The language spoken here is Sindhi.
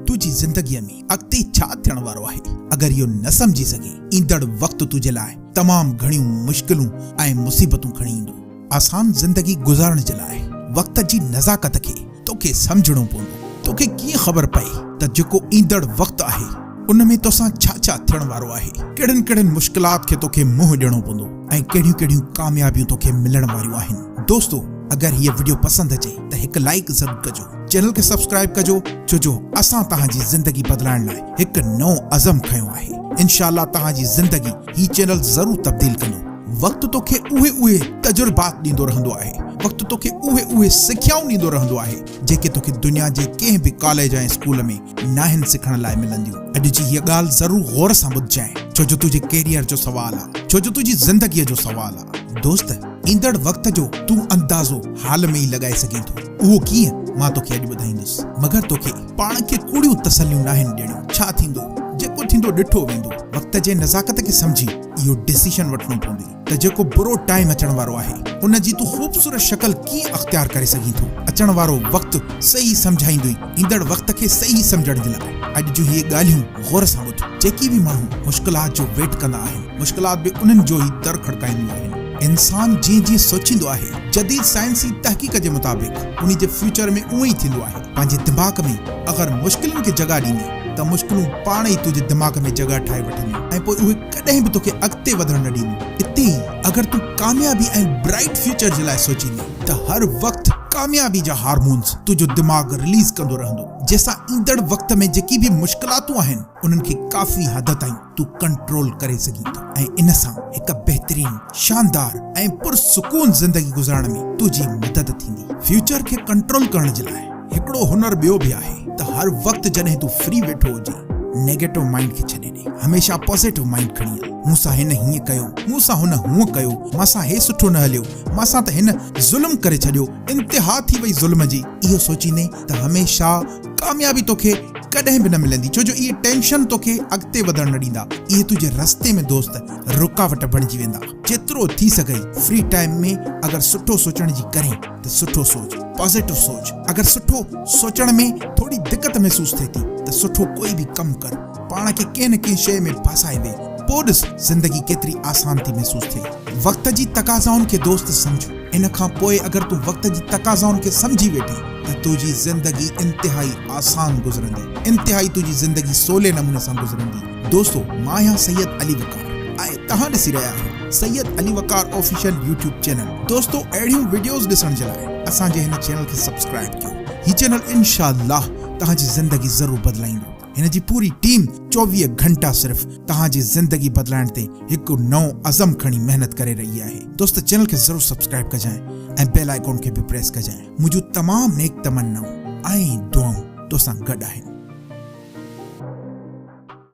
تنهنجي زندگيء ۾ اڳتي ڇا ٿيڻ وارو آهي، اگر اهو نه سمجهي سگهين، ايندڙ وقت تنهنجي لاء تمام گهڻيون مشڪلون ۽ مصيبتون کڻي ايندو. آسان زندگي گذارڻ جي لاء وقت جي نزاڪت کي توکي سمجهڻو پوندو. توکي ڪيئن خبر پئي ته جيڪو ايندڙ وقت آهي، ان ۾ توسان ڇا ڇا ٿيڻ وارو آهي، ڪهڙين ڪهڙين مشڪلات کي توکي منهن ڏيڻو پوندو ۽ ڪهڙيون ڪهڙيون ڪاميابيون توکي ملڻ واريون آهن. دوستو! اگر هيء وڊيو پسند اچي ته هڪ لائيڪ ضرور ڪجو. چينل کي سبسڪرائب ڪجو ڇو جو اسان توهان جي زندگي بدلائڻ لاء هڪ نئون عزم کنيو آهي انشاء الله توهان جي زندگي هي چينل ضرور تبديل ڪندو وقت توکي اهي اهي تجربات ڏيندو رهندو آهي وقت توکي اهي اهي سکيائون ڏيندو رهندو آهي جيڪي توکي دنيا جي ڪنهن به ڪاليج ۽ اسڪول ۾ ناهن سکڻ لاء ملنديون اڄ جي هيء ڳالهه ضرور غور سان ٻڌجانء ڇو جو تنهنجي ڪيريئر جو سوال آهي ڇو جو تنهنجي زندگيء جو سوال آهي دوست ايندڙ وقت جو تون اندازو حال ۾ ئي لڳائي سگهين ٿو. اهو ڪيئن؟ مان توکي اڄ ٻڌائيندس. مگر توکي پاڻ کي ڪوڙيون تسليون ناهن ڏيڻيون. ڇا ٿيندو؟ جيڪو ٿيندو ڏٺو ويندو. وقت جي نزاڪت کي سمجهي اهو ڊسيشن وٺڻو پوندي ته جيڪو برو ٽائيم اچڻ وارو آهي ان جي تون خوبصورت شڪل ڪيئن اختيار ڪري سگهين ٿو. اچڻ وارو وقت صحيح سمجهائيندوئي. ايندڙ وقت کي صحيح سمجهڻ جي لاء اڄ جون اهي ڳالهيون غور سان ٻڌ. جيڪي به ماڻهو مشڪلات جو ويٽ ڪندا آهن، مشڪلات به انهن جو ئي در کڙڪائينديون آهن. انسان جيئن جيئن سوچيندو آهي، جديد سائنسي تحقيق جي مطابق انهي جي فيوچر ۾ اونء ئي ٿيندو آهي. پنهنجي دماغ ۾ اگر مشڪلن کي جڳهه ڏيندين ته مشڪلون پاڻ ئي تنهنجي دماغ ۾ جڳهه ٺاهي وٺنديون ۽ پوء اهي. ڪڏهن به توکي اڳتي وڌڻ نه ڏيندو. اتي ئي اگر تون ڪاميابي ۽ برائيٽ فيوچر جي لاء سوچيندين ته هر وقت ڪاميابي جا هارمونز تنهنجو دماغ رليز ڪندو رهندو جنهن سان ايندڙ وقت ۾ جيڪي به مشڪلاتون آهن انهن کي ڪافي حد تائين تون ڪنٽرول ڪري سگهين ٿو ۽ ان سان هڪ بهترين شاندار ۽ پرسڪون زندگي گذارڻ ۾ تنهنجي مدد ٿيندي. فيوچر کي ڪنٽرول ڪرڻ جي لاء. هڪڙو هنر ٻيو به آهي ته هر وقت جڏهن تون فري ويٺو هجين نيگيٽو مائينڊ کي ڇڏي ڏي هميشه پازيٽو مائينڊ کڻي هل مون سان هن هيئن ڪيو مون سان هن هونء ڪيو مان سان هي سٺو نه هليو مان سان ته هن ظلم ڪري ڇڏيو انتها ٿي وئي ظلم جي اهو سوچيندين ته هميشه ڪاميابي توکي ڪڏهن به نه ملندي ڇو جو اهي ٽينشن توکي اڳتي وڌڻ نه ڏيندا اهي تنهنجي رستي ۾ دوست رڪاوٽ بڻجي ويندا جيترو ٿي سگهئي فري ٽائيم ۾ اگر سٺو سوچڻ جي ڪرين ته سٺو سوچ، پازيٽو سوچ، اگر سٺو سوچڻ ۾ ٿوري دقت محسوس ٿئي ٿي ته سٺو ڪوئي به ڪم ڪر، پاڻ کي ڪنهن نه ڪنهن شيء ۾ ڦاسائي ويهه، پوء ڏس زندگي ڪيتري آسان ٿي محسوس ٿئي. وقت جي تقاضائن کي دوست سمجهه، ان کان پوء اگر تون وقت جي تقاضائن کي سمجهي ويٺين ته تنهنجي زندگي انتهائي آسان گذرندي، انتهائي تنهنجي زندگي سولي نموني سان گذرندي. دوستو! مان آهيان سيد علي وقار. توهان ڏسي رهيا آهيو Syed Ali Waqar official YouTube channel دوستو اهڙيون وڊيوز ڏسڻ جي لاء اسان جي هن چينل کي سبسڪرائب ڪيو هي چينل انشاء الله توهان جي زندگي ضرور بدلائيندو هن جي پوري ٽيم چوويهه گهنٽا صرف توهان جي زندگي بدلائڻ تي هڪ نئون عزم کڻي محنت ڪري رهي آهي دوست چينل کي ضرور سبسڪرائب ڪجانء ۽ بيل آئيڪون کي به پريس ڪجانء منهنجون تمام نيڪ تمنائون ۽ دعائون تو سان گڏ آهن.